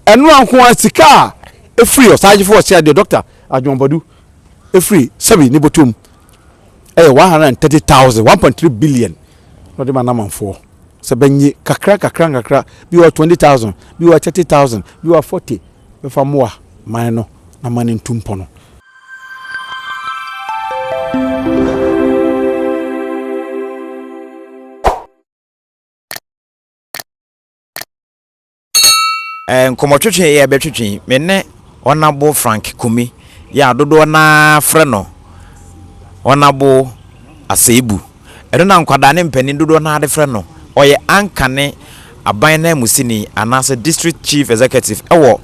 Ɛno ara nko ara sika a ɛfiri ɔsagyefo a ɔsea deɛ Dɔkta Adwoa Badu firi Sɛbi ne bɔtɔ mu ɛyɛ 130,000, 1.3 billion na ɔde ma Namanfoɔ sɛ bɛnye kakra kakra nkakra, bi wɔ hɔ a 20,000, bi wɔ hɔ a 30,000, bi wɔ hɔ a 40, bɛfa mmoa man no na man no ntu mpɔ no. Ɛɛ nkɔmmɔtwetwe yɛ bɛtwetwe me ne Ɔnabo Frank Kumi yɛ a dodoɔ no ara frɛ no Ɔnabo Aseibu. Ɛno na nkwadaa ne mpanin dodoɔ no ara de frɛ no. Ɔyɛ anchor ne aban nanmusini anaasɛ District Chief Executive wɔ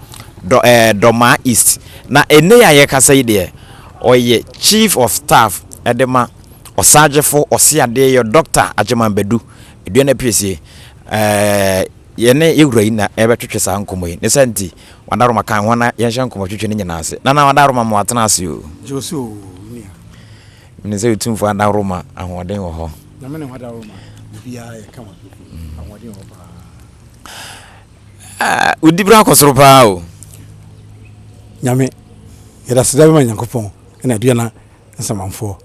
Dɔ ɛɛ Dɔmaa East. Na ɛnnɛ yi a yɛrekasa yi deɛ, ɔyɛ Chief of Staff de ma Ɔsaagyefo Ɔseadeɛyɔ Dɔkta Agyeman Badu Aduana Piesie. Ɛɛ. Yɛne yɛn wura yi na yɛbɛtwetwe saa nkɔmmɔ yi. Ne saa nti, Wada Roma kae hɔn na yɛnhyɛ nkɔmmɔtwetwe no nyina ase. Nana Wada Roma, mowɔ atsena ase o. Jose o, me nua. Minim sɛ Otumfo Wada Roma, ahoɔden wɔ hɔ. Na me ne Wada Roma, biribiara yɛ kama pefee. Ahoɔden wɔ hɔ paa. Ah, wo dibra kɔ soro paa o. Nyame, yɛda aseda bɛma Nyankopɔn na Aduana Nsamanfoɔ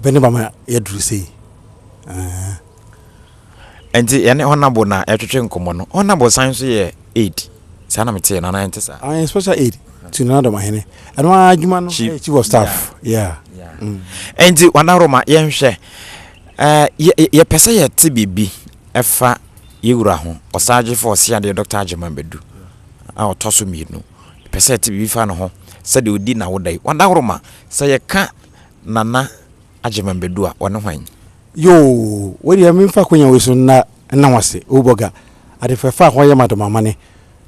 bɛ ne bama yɛaduru sei. Aah. Ɛnti yɛne Honourable na yɛtwetwe nkɔmmɔ no, Honourable san nso yɛ Aid, saa na metee no anaa ɛnte saa? Ɔyɛ Special Aid to Nana Domahene, ɛno ara adwuma no yɛ Chief of Staff, yeah. Ɛnti Honourable ma yɛnhwɛ, yɛpɛ sɛ yɛte biribi ɛfa yɛn wura ho, Ɔsaagyefo Ɔseadeɛ Doctor Agyemang Badu a ɔtɔ so mmienu, yɛpɛ sɛ yɛte biribi fa ne ho sɛdeɛ ɔdi n'awoda yi, Honourable ma sɛ yɛka Nana. Agyeman Badu a, ɔne hwan? Yoo! Wei deɛ me mfa akonya wei so nna nna wo ase oh bɔga ade fɛfɛ a ho ayɛ ma dɔ mama ne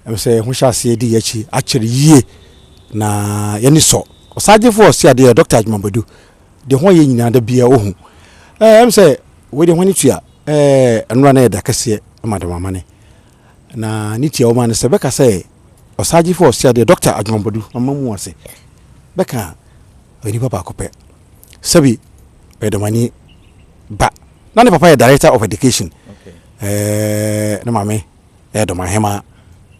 ɛm sɛ ho hyɛ aseɛ di yakyi akyere yie na yani sɔ ɔsaagyefo ɔse adeɛ Doctor Agyeman Badu deɛ ho ayɛ nyinaa da biaa ohu eh ɛm sɛ wei deɛ ho ani tua eh ɛnora na ɛyɛ da kɛseɛ ma dɔ mama ne na ne tia wo ma ne sɛ bɛka sɛ ɔsaagyefo ɔse adeɛ Doctor Agyeman Badu mama mu ase bɛka onipa baako pɛ. sɛbi ɔyɛ dɔmani ba na ne papa yɛ director of education ɛɛ ne maame ɛyɛ dɔmahema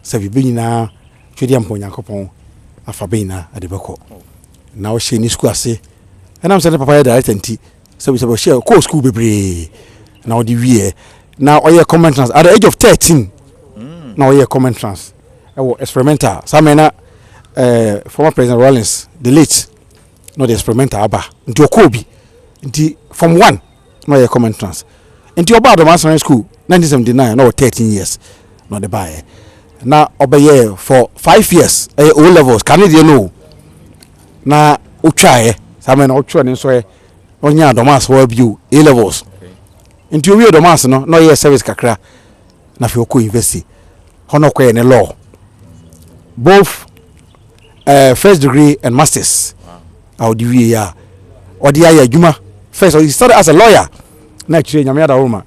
sɛbi bɛ nyinaa twɛdeɛ mpɔ nyankopɔn afa bɛ nyinaa ɛde bɛkɔ na ɔhyɛ ne sukuu ase ɛnam sɛ ne papa yɛ director nti sɛbi sɛbi ɔhyɛ kɔɔ sukuu bebree na ɔde wieɛ na ɔyɛ common trans at the age of thirteen mm. na ɔyɛ common trans ɛwɔ experimental saa mɛ na ɛɛ former president Rawlings the late. na ɔde experimental aba nti ɔkɔɔ bi nti form one na ɔyɛ common entrance nti ɔbaa Adomaa Science School nineteen seventy nine na ɔwɔ thirteen years na ɔde baeɛ na ɔbɛyɛɛ for five years ɛyɛ O levels kane deɛ no o na ɔtwaeɛ saa mɛ na ɔtwerɛ ne nsɔɛ na ɔnyɛ Adomaase hɔ bio A levels nti owie Adomaase no na ɔyɛɛ service kakra na afei ɔkɔ university hɔ na ɔkɔyɛ ne law both ɛɛ eh, first degree and masters a ɔde wie yɛ a ɔde ayɛ adwuma first ɔde started as a lawyer na akyire nyame adaworo ma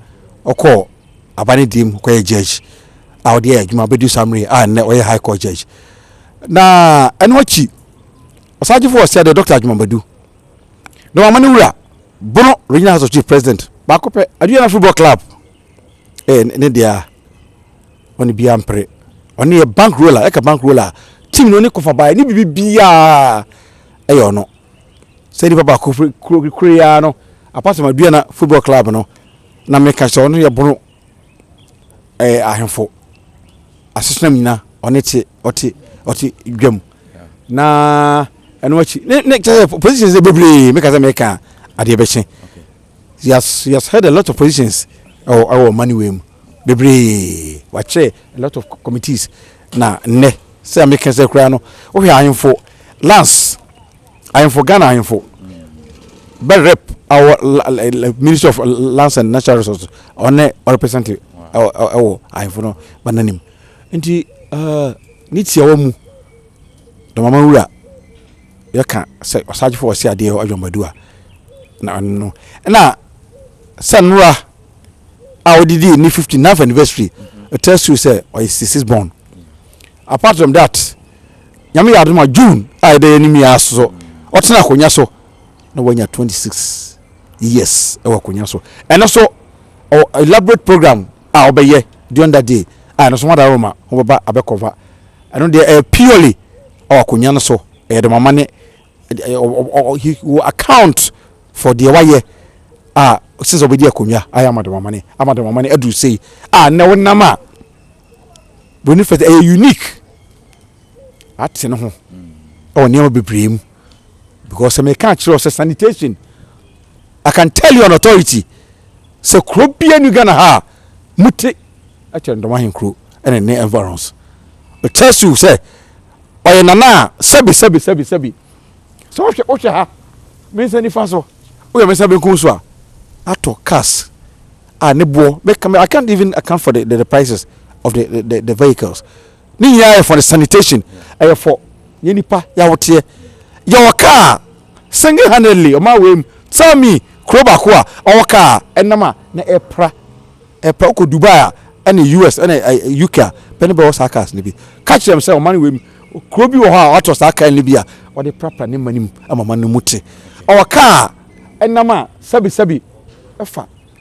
ɔkɔɔ aba ne deɛ mu kɔyɛ judge a ɔde ayɛ adwuma bɛdu saa mmerɛ a nnɛ ɔyɛ high court judge na ɛno akyi ɔsagyefo wɔ sɛ deɛ dɔkta adwumabadu na wama no wura bono regional house of chief president baako pɛ aduana football club ɛɛ eh, ne deɛ a ɔne bia mpere ɔne yɛ bank roller ɛka bank roller team no ne kofa bae ne bibi bia ɛyɛ ɔno sɛ nipa ba kuro kuro ya no apart from aduana football club no na meka sɛ ɔno yɛ bono ɛɛ eh, ahemfo asesenam nyina ɔne te ɔte ɔte dwam na ɛno akyi ne ne kyɛ positions bebree meka sɛ meka adeɛ bɛhyɛ He has he has held a lot of positions ɛwɔ ɛwɔ ɔman wei mu bebree wakyerɛ a lot of committees na nnɛ sɛ ɛmi kɛse koraa no wohwɛ ahemfo lands ahemfo Ghana ahemfo bɛ rep our ministry of lands and natural resources ɔne ɔrepresent ɛwɔ ɛwɔ ahemfo no ba n'anim nti ɛɛ ne tiawa mu dɔmama wura yɛka sɛ ɔsagyefo wɔ se adeɛ adwamadu a na ɔno no ɛna sɛ nnora a wɔde dii ne 59th anniversary ɛtɛ su sɛ ɔyɛ 66 born apart from that nyame yɛ adoma june a yɛda yɛnim yɛ aso so ɔtena akonnwa so na wanya 26 years ɛwɔ akonnwa so ɛno so ɔwɔ elaborate program a ɔbɛyɛ during that day a ɛno nso wɔn adaworo ma wɔbɛba abɛ cover ɛno deɛ ɛyɛ purely ɔwɔ akonnwa no so ɛyɛ de mama ne he will account for deɛ wayɛ a since ɔbɛdi akonnwa ayɛ ama de mama ne ama de mama ne aduru sei a nnɛ wonam a broni fɛ ɛyɛ unique ate ne ho ɛwɔ nneɛma bebree mu because sɛ meka akyerɛ sɛ sanitation I can tell you on authority sɛ kuro bia ni Ghana ha a mute ɛkyɛ ndɔm ahenkuro ɛne ne environs it tells you sɛ ɔyɛ nana a sɛbi sɛbi sɛbi sɛbi sɛ wohwɛ wohwɛ ha me nsa nifa so woyɛ me nsa benkum so a atɔ cars a ne boɔ I can't even account for the, the, the prices of the, the, the, the vehicles ne nyinaa yɛ for the sanitation ɛyɛ for yɛ nipa yawoteɛ yɛwɔ kaa single handedly ɔmo awɔ mu tell me kuro baako a ɔwɔ kaa ɛnam a na ɛpra ɛpra ɔkɔ Dubai a ɛne US ɛne UK a bɛne bɛwɔ saa cars no bi ka kyerɛ m sɛ ɔman wɔ mu kuro bi wɔ hɔ a watɔ saa kaa no bi a ɔde prapra ne mma no mu ama ma no mu te ɔwɔ kaa ɛnam a sɛbi sɛbi ɛfa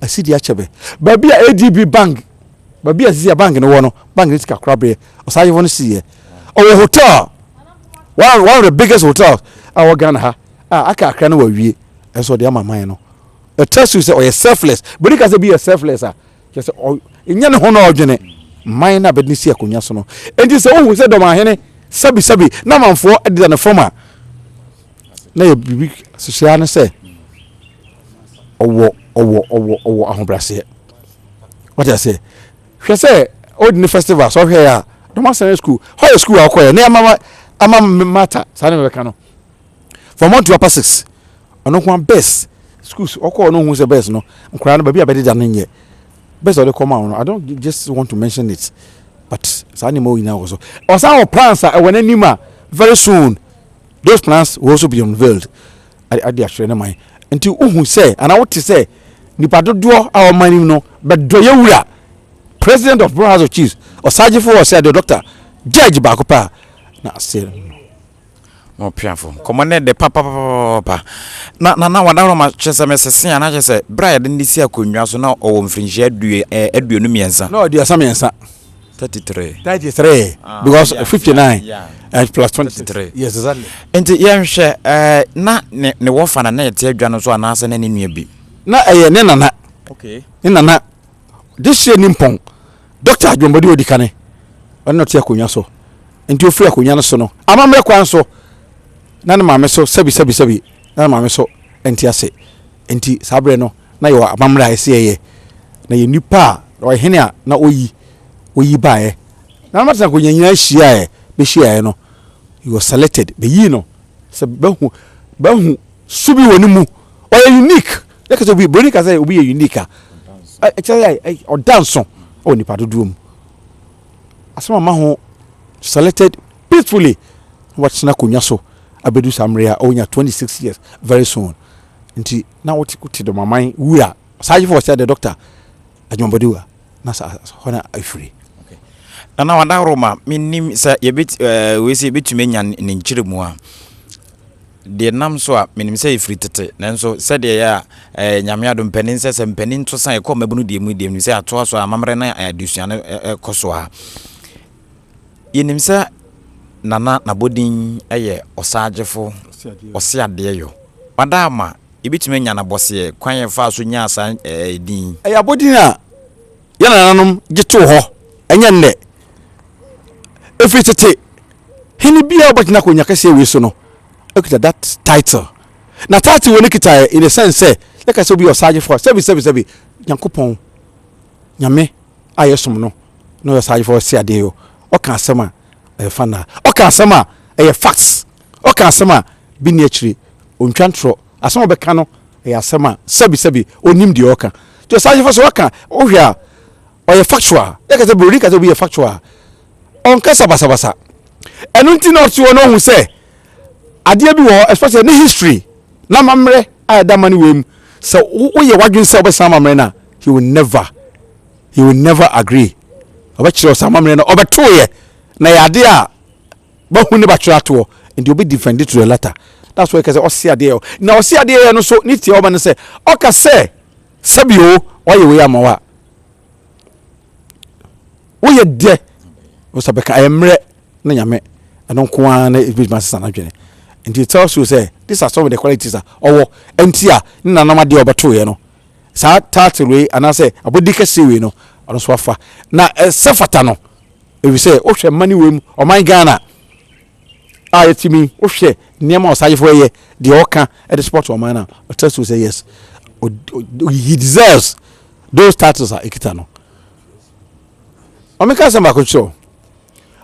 asi de akyɛ me. Baabi a ADB bank, baabi a sisi a bank no wɔ no, bank no sika korabeɛ, ɔsaayefo no siiɛ. Ɔwɔ hotel, one, one of the biggest hotels a wɔ Ghana ha, a aka akra no wawie, ɛnso ɔde ama man no. It tells you sɛ ɔyɛ selfless. Bɛdi ka sɛ bi yɛ selfless a, kyerɛ sɛ ɔ, ɛnyɛ ne ho na ɔdwene man no a bɛde no si akonnwa so no. Enti sɛ wohu sɛ dɔmahene sabisabi na amanfoɔ deda ne fam a, na yɛ biribi hyehyɛ no sɛ ɔwɔ ɔwɔ ɔwɔ ɔwɔ ahobrɛaseɛ wate aseɛ hwɛ sɛ ɔdi ne festival sɛ ɔhwɛ a dɔm asɛn school hɔ yɛ school a ɔkɔyɛ ne ama ama mata saa ne mɛka no from one to upper six ɔno nko best schools ɔkɔ ɔno hu sɛ best no nkwadaa no baabi a bɛde da no nyɛ best ɔde kɔma ɔno i don't just want to mention it but saa nneɛma nyinaa wɔ so ɔsan wɔ plans a ɛwɔ n'anim a very soon. Those plans will also be unveiled de akyerɛ ne man nti wohu sɛ anaa wote sɛ nipa dodoɔ a wɔn anim no bɛdɔ yɛ wura president of Borno House of Chiefs ɔsagyefo wɔ sɛ de doctor judge baako paa na ase no. mo piafo nkɔmɔ ne de papapapa na na na wadaworo ma kyerɛ sɛ mesese a na kyerɛ sɛ berɛ a yɛde ne si akonnwa so na ɔwɔ mfirinhyia aduonu mmiɛnsa na ɔde asa mmiɛnsa Thirty three. Thirty three. Ah, Because yeah, fifty nine yeah, yeah. and plus twenty three. Yes, exactly. Nti yɛnhwɛ ɛɛ eh, na ne ne wɔfa na na yɛte adwa no so anaasɛ na ne nua bi. Na ɛyɛ eh, ne nana. Okay. Ne nana de hyɛ ne mpɔn dɔkta adwombɔde odi kane ɔne na ɔte akonnwa so nti ofiri akonnwa no so no amammerɛ kwan so na ne maame so sɛbi sɛbi sɛbi na ne maame so nti ase nti saa berɛ no na yɛwɔ amammerɛ a ɛsɛ yɛyɛ, na yɛn nnipa a, na ɔyɛ hene a na ɔyi, ɔyi baeɛ. Na na Martin Konya nyinaa hyiaeɛ, bɛhyiaeɛ no, he was selected, bɛyii no sɛ bɛhu, bɛhu su bi wɔ ne mu, ɔyɛ unique, yɛ kasa obi, buroni kasa obi yɛ unique a, ɛkyɛ yɛ, ɔda nso wɔ nipa dodoɔ mu. Asɛm ama ho selected peacefully, na watena konya so, abɛdu saa mmerɛ a ɔnya 26 years very soon, nti na wote wote dɔm aman wura saa yefo sɛ the doctor adwumabɔde wura na sa hɔ na afiri okay na na wada roma menim sɛ yɛbɛt eh, wei sɛ yɛbɛtumi anya ne nkyerɛ mu a deɛ nam so a menim sɛ ɛfiri tete nanso sɛdeɛ yɛ a eh, nyame ado mpanin sɛ sɛ mpanin to sa ɛkɔ mmabunu deɛ mu deɛ mu sɛ atoa so a amammerɛ na eh, adesua no eh, eh, kɔ so a Yɛnim sɛ Nana n'abɔdin yɛ Ɔsaagyefo Ɔseadeɛyɔ. Wada ama yɛbɛtumi anya no abɔseɛ kwan a yɛfaa so nyaa saa din yi. Ɛyɛ abɔdin a yɛn nananom gye too hɔ, ɛnyɛ nnɛ. Ɛfiri tete, hene biara a ɔbɛtena akonnwa kɛseɛ wei so no kita that title. Na title wei no kitaeɛ in the sense sɛ yɛka sɛ obi yɛ Ɔsaagyefo a, sɛbi sɛbi sɛbi, Nyankopɔn. Nyame a yɛsom no na ɔyɛ saa adwemfo a ɔte sɛ adeɛ yi o, ɔka asɛm a ɛyɛ fanaa, ɔka asɛm a ɛyɛ facts, ɔka asɛm a bi nni akyire, ɔntwa ntorɔ, asɛm a ɔbɛka no ɛyɛ asɛm a sɛbi sɛbi ɔnim deɛ ɔka. Nti saa adwemfo sɛ waka, wohwɛ a ɔyɛ factual, yɛka sɛ buroni ka sɛ obi yɛ factual a, ɔnkasa basabasa. Ɛno nti na ɔte hɔ na ɔhu sɛ. adeɛ bi wɔ hɔ especially ne history na amammerɛ a ɛda ma ne wei mu sɛ woyɛ w'adwene sɛ wobɛsan amammerɛ no a he will never he will never agree ɔbɛkyerɛ sɛ amammerɛ no ɔbɛtoeɛ na yɛ adeɛ a bahu ne batwerɛ atoɔ nti obi defend to the latter that's why kɛsɛ ɔse adeɛ na ɔse adeɛ yɛ no so ne tie ɔma no sɛ ɔka sɛ sɛbi o ɔyɛ wei ama wa woyɛ dɛ ɔsɛ bɛka ɛyɛ mmerɛ na nyame ɛno nko ara na ɛbɛtumi asesa no adwene nti it tells you sɛ this are some of the qualities a ɔwɔ ɛnti a ne nanom adeɛ a ɔbɛtoeɛ no saa title wei anaasɛ abɔdi kɛseɛ wei no ɔno so afa na ɛsɛ fata no ɛfiri sɛ wohwɛ mma ne wei mu ɔman ghana a yɛtumi wohwɛ nneɛma ɔsayefo ɛyɛ deɛ ɔka ɛde support ɔman no a it tells you sɛ yes he deserves those titles a ɛkita no Ɔmo ka asɛm baako kyerɛ o.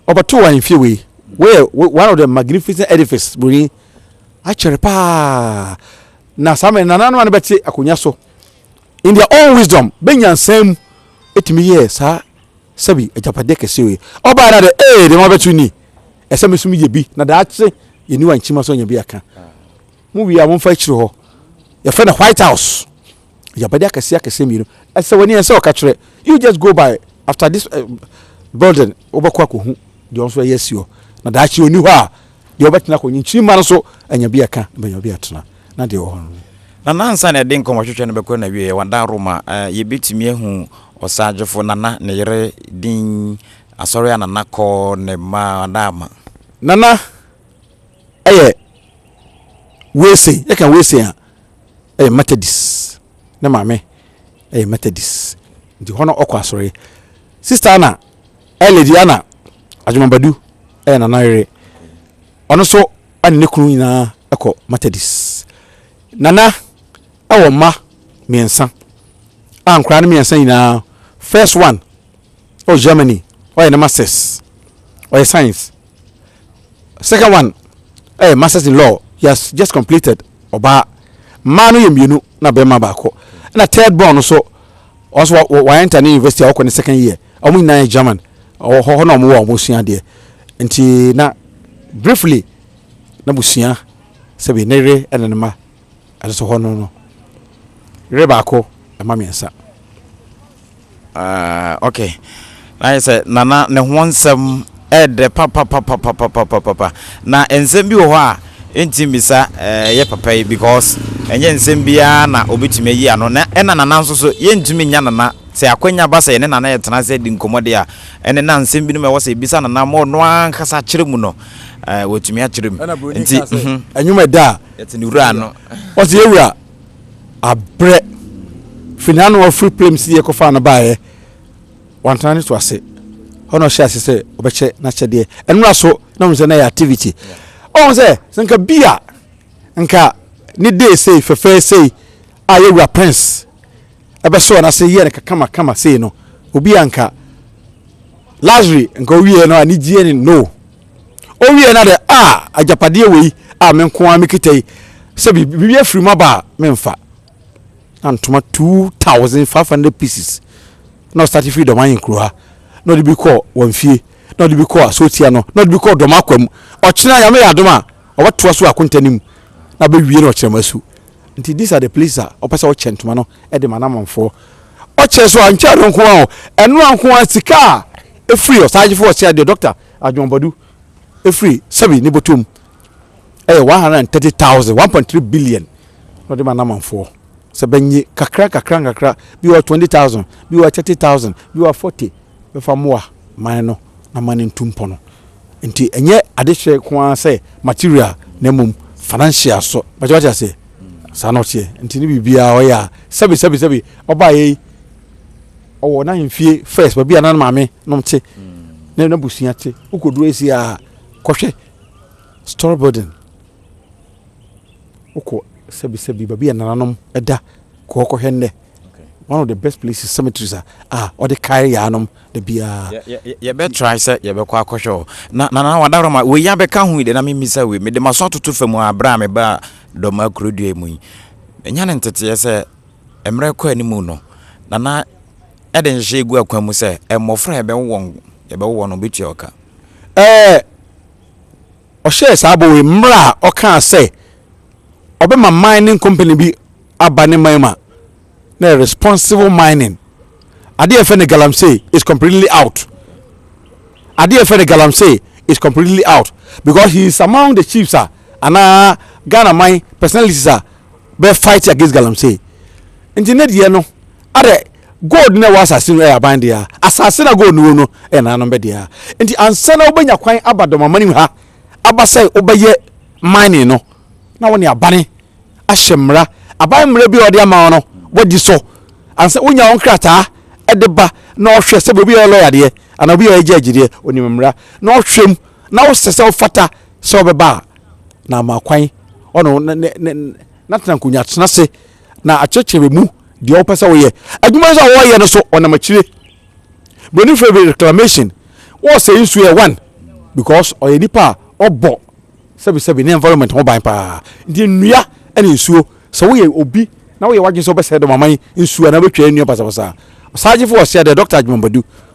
Ɔbɛto wɔ ahemfie wei. Woyɛ one of the magnificent edifice broni. Akyɛre paa. Na saa mmerɛ nananom a no bɛte akonnwa so in their own wisdom bɛ nyansaa mu ɛtumi yɛɛ saa sɛbi agyapadeɛ kɛseɛ wei. Ɔbaa na dɛ ee deɛ ma bɛto ni. Ɛsɛ me nso meyɛ bi na daakye yɛniwa nkyima so anya bi aka. Mo wie a momfa akyire hɔ yɛfrɛ no white house agyabade akɛseɛ akɛseɛ mmienu ɛsɛ wani ɛsɛ ɔka kyerɛ you just go by after this uh, building wobɛkɔ akɔhu deɛ ɔnso ɛyɛ asi hɔ na daakye ɔni hɔ a deɛ ɔbɛtena kɔ nkyirima no so anya bi ɛka bɛnya bi atena na deɛ ɔhɔ no na nansa na ɛde nkɔmɔhwehwɛ no bɛkɔ na wie yɛ wada roma uh, yɛbɛtumi ahu ɔsagyefo nana ne yere din asɔre a nana kɔ ne ma wada ama nana ɛyɛ wese yɛka wese a ɛyɛ methodist ne maame ɛyɛ methodist nti hɔ no ɔkɔ asɔre sista ana ɛlɛdi ana adwomabadu ɛyɛ nana yere ɔno nso ɛne ne kunu nyinaa ɛkɔ methodist nana ɛwɔ mma mmiɛnsa a nkora no mmiɛnsa nyinaa first one ɔwɔ Germany ɔyɛ ne masters ɔyɛ science second one ɛyɛ masters in law he has just completed ɔbaa mmaa no yɛ mmienu na bɛrima baako ɛna third born no so wɔn so wɔn enter ne university a wɔkɔ ne second year wɔn nyinaa yɛ German ɔwɔ hɔ na wɔn wɔ wɔn sua adeɛ nti na briefly na busua sɛbi ne yere ɛna ne ma Ɛsoso hɔ no no. Yere baako mma mmiɛnsa. Ah ok na ayɛ sɛ nana ne ho nsɛm ɛɛdɛ papapapapapapapa na nsɛm bi wɔ hɔ a ɛntim bisa ɛɛ yɛ papa yi because ɛnyɛ nsɛm biara na ɔbɛtumi ayi ano na ɛna nana nso so yɛntumi nya nana sɛ akwanya ba sɛ yɛne nana yɛtena ase di nkɔmmɔ deɛ a ɛne na nsɛm binom ɛwɔ sɛ ɛbisa nana ma ɔno ankasa akyerɛ mu no ɛɛ wɔtumi akyerɛ mu ɛna buroni nti kaa sɛ ɛnwom ɛda a yɛte ne wura no ɔse yɛ wura abrɛ firi na ano ɔfiri plem si yɛkɔfa no baeɛ wantena ne to ase hɔ na ɔhyɛ ase sɛ ɔbɛkyɛ n'akyɛdeɛ ɛnora so na ɔhu sɛ na yɛ activity ɔhu sɛ sɛ nka bi a nka ne dee sei fɛfɛɛ sei a yɛ wura prince ɛbɛsɔɔ no ase yɛ no kakama kama sei no obi a nka lazare nka owie no a ne gyeɛ ne no Ɔwieeɛ no adɛ, a, agyapadeɛ wei a me nko ara mekita yi, sɛ biribi afiri mu aba a, memfa. Na ntoma 2,500 pieces na ɔstate firi Dɔmahin kuro ha, na ɔde bi kɔɔ wɔn fie, na ɔde bi kɔɔ Asotia no, na ɔde bi kɔɔ Dɔma kwa mu. Ɔkyena Nyame yɛ adom a, ɔbɛtoa so akonta no mu, na bɛwie no Ɔkyerɛmasu. Nti these are the places a ɔpɛ sɛ ɔkyɛ ntoma no de ma Anamanfoɔ. Ɔkyɛ so a, nkyɛ ɛno nko ara o, ɛno ara nko ara sika a ɛfiri Ɔsaagyefo Ɔseadeɛ, Dɔkta, Adwonbɔdu firi sɛbi ne bɔtɔ mu yɛ one hundred and thirty thousand, one point three billion, na ɔde ma n'amanfoɔ sɛ bɛnye kakra nkakra nkakra, bi wɔ hɔ twenty thousand, bi wɔ hɔ thirty thousand, bi wɔ hɔ forty, bɛfa mmoa man no na man no ntu mpɔ no. Nti ɛnyɛ adehyɛ nko ara sɛ material na mmom financial so. Bɛkyɛ wate aseɛ? Saa na ɔteɛ. Nti ne biribiara ɔyɛ a sɛbi sɛbi sɛbi ɔbaeɛ yi. ɔwɔ n'ahemfie first baabi a na ne maame nom te na mm. n'abusua te wokɔduru asi a kɔhwɛ story building wokɔ sɛbisɛbi baabi a nananom da kɔɔ kɔhwɛ nnɛ one of the best places cemeteries a a ɔde kae yaanom da biara yɛbɛtrae sɛ yɛbɛkɔ akɔhwɛ hɔ na nana wadawrɛ ma wei abɛka ho yi de na memmisa wei mede maso atoto fa mu a berɛ a mebaa dɔm akurodua mu yi ɛnya ne nteteɛ sɛ mmerɛ rekɔ anim no, Nana de nhyehyɛeɛ gu akwan mu sɛ mmɔfra a yɛbɛwo wɔn yɛbɛwo wɔn no bɛtua ɔka. Ɛɛ ɔhyɛɛ saa bɔ wei mmerɛ a ɔkaa sɛ ɔbɛma mining company bi aba ne man mu a na ɛyɛ responsible mining. Adeɛ a yɛfrɛ no galamsey is completely out. Adeɛ a yɛfrɛ no galamsey is completely out because he is among the chiefs a anaa Ghana man personalities a bɛ fight against galamsey nti ne deɛ no adɛ gold na ɛwɔ asase no ɛyɛ aban deɛ asase na gold no wɔ no ɛyɛ nananom bɛ deɛ nti ansa na wobɛnya kwan aba dɔmamani mu ha aba sɛ wobɛyɛ mining no na wɔne abane ahyɛ mmara aban mmara bi a wɔde ama no wɔdi so ansa wonya wɔn krataa ɛde ba na ɔhwɛ sɛ obi yɛ lɔya deɛ anaa obi yɛ agya agyideɛ onim mmara na ɔhwɛ mu na wosɛ sɛ wofata sɛ wɔbɛba a na ama kwan ɔno ne ne ne n'atena nkonnwa tena ase na akyerɛkyerɛ mu deɛ ɔpɛ sɛ ɔyɛ adwuma nso a wɔreyɛ no so ɔnam akyire broni fɛ bi reclamation wɔresɛe nsuo yɛ one because ɔyɛ nipa a ɔbɔ sɛbisɛbi ne environment ho ban paa nti nnua ne nsuo sɛ woyɛ obi na woyɛ wadwene sɛ wobɛsɛe dɔm aman nsuo anaa wobɛtwa nnua basabasa saa gyefo ɔsɛ dɛ dɔkta adwuma badu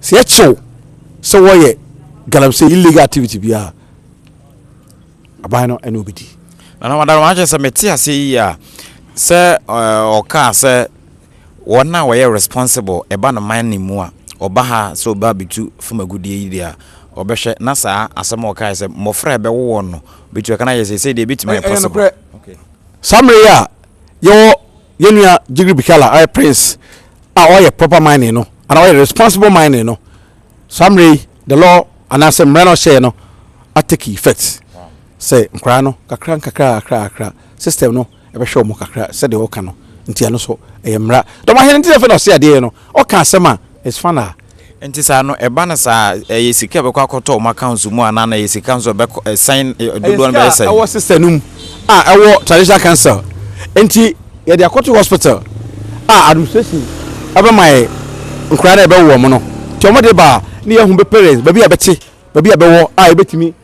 Sɛ yɛkyɛ wo sɛ wɔyɛ galamsey illegal activity bi a, aban no ɛne obedi. Nana Madam Akyɛ sɛ mete aseɛ yie a sɛ ɔkaa sɛ wɔn a wɔyɛ responsible ɛba no man no mu a ɔba ha sɛ ɔba bɛtu fam agudeɛ yi deɛ a ɔbɛhwɛ na saa asɛm a ɔkaeɛ sɛ mmɔfra a ɛbɛwo wɔn no bɛtu ɛka no ayɛ seesei deɛ ɛbɛtumi ayɛ possible. Saa mmerɛ yi a yɛwɔ Yɛn nua Jigri Bikala a ɔyɛ Prince a ɔyɛ proper mining no anaa ɔyɛ responsible mining no, saa mmerɛ yi the law anaasɛ mmara no ɔhyɛɛ no atake effect sɛ nkwaraa no kakra nkakra kakra kakra system no ɛbɛhwɛ wɔn kakra sɛdeɛ ɔka no nti ɛno so ɛyɛ mmara dɔmahene nti na afei na ɔse adeɛ no ɔka asɛm a is fun a Nti saa no ɛba no saa a ɛyɛ sika a ɛbɛkɔ akɔtɔ wɔn accounts mu anaa na ɛyɛ sika nso a ɛbɛkɔ ɛsan Ɛyɛ dodoɔ no sika bɛyɛ a sɛn? ɛwɔ sister no mu a ɛwɔ traditional council nti yɛde akɔto hospital a administration ɛbɛma yɛn nkwadaa no a yɛbɛwo wɔn no nti wɔn de ba a na yɛahu bɛ parents baabi a bɛte. baabi a bɛwɔ a yɛbɛtumi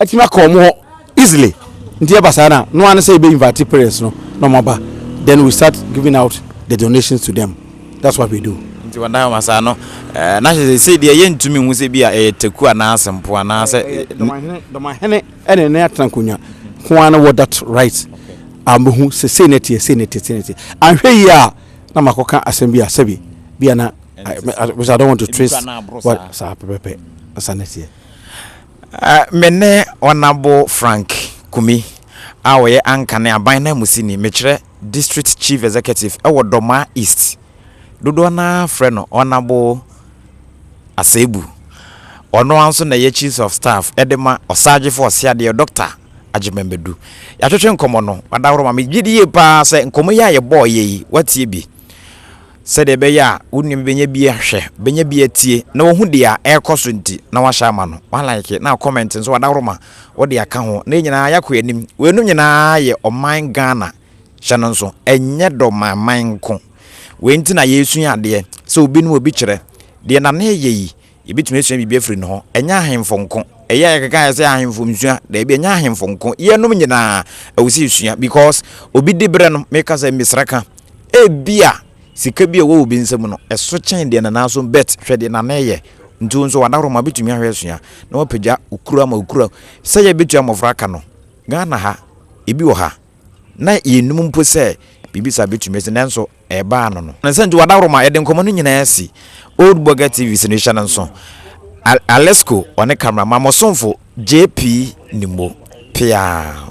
atumi akɔ wɔn hɔ easily nti ɛba saa na no ano sɛ yɛbɛ invite parents no na wɔn aba then we start giving out the donations to them that's what we do. nti wɔn dan wɔn saa no ɛɛ na hyɛ sɛ deɛ yɛn ntumi nhu sɛ bi a ɛyɛ teku anaa asempo anaa sɛ. dɔmahene dɔmahene ɛna ne atena nkonnwa ho ara wɔ that right a mehu sɛ sei na ɛteɛ sei na ɛteɛ sei na ɛteɛ anhwɛ yie a na makɔka asɛm bi a sɛbi bi a na. Me ne Honourable Frank Kumi a ɔyɛ Ankane Aban Nanmusini, mekyerɛ District Chief Executive wɔ Dormaa East, dodoɔ no ara frɛ no Honourable Asebu. Ɔno ara nso na ɛyɛ Chiefs of Staff de ma Ɔsagyefo Ɔseadeɛ Dɔkta Agyeman Badu. Yɛatwetwe nkɔmmɔ no, wadaworo ma me. Megye di yie pa ara sɛ nkɔmmɔ yi a yɛbɔeɛ yi, woatie bi. Sɛdeɛ ɛbɛyɛ a wo nua bi bɛnya bi ahwɛ, bɛnya bi atie, na wahu deɛ ɛrekɔ so nti, na wahyɛ ama no. Walike na akɔmɛnte nso, wadawroma, wode aka ho, na yɛn nyinaa yɛakɔ yɛn anim. Weinom nyinaa yɛ ɔman Ghana. Hyɛ no nso, ɛnyɛ dɔmanman nko. Wei nti na yɛresua adeɛ, sɛ obi ne obi kyerɛ, deɛ Nana reyɛ yi, Yɛbɛtumi asua biribi afiri ne hɔ. Ɛnyɛ ahemfo nko. Ɛyɛ a yɛkeka ayɛ sɛ ahemfo nsua. Daabi, ɛnyɛ ahemfo nko. Yɛnom nyinaa, ɛwɔ sɛ yɛsua because obi di berɛ no, meka sɛ mesrɛ ka, ebia sika bi a ɛwɔ obi nsam no, ɛso kyɛn deɛ nanaa so bet hwɛ deɛ nanaa yɛ. Nti wo nso w'adaworoma bɛtumi ahwɛ asua na wapagya okura ama okura. Sɛ yɛbɛtua mmɔfra ka no, Ghana ha, ebi wɔ ha. na yɛnnim mpo sɛ biribi saa bɛtumi asi, nanso ɛbaa no no. Sɛ nti w'adaworoma, yɛde nkɔmmɔ no nyinaa asi Old Burger TV so no hyɛ no nso. Alesko, ɔne cameraman, mo somfo JP Nimmo, peaa.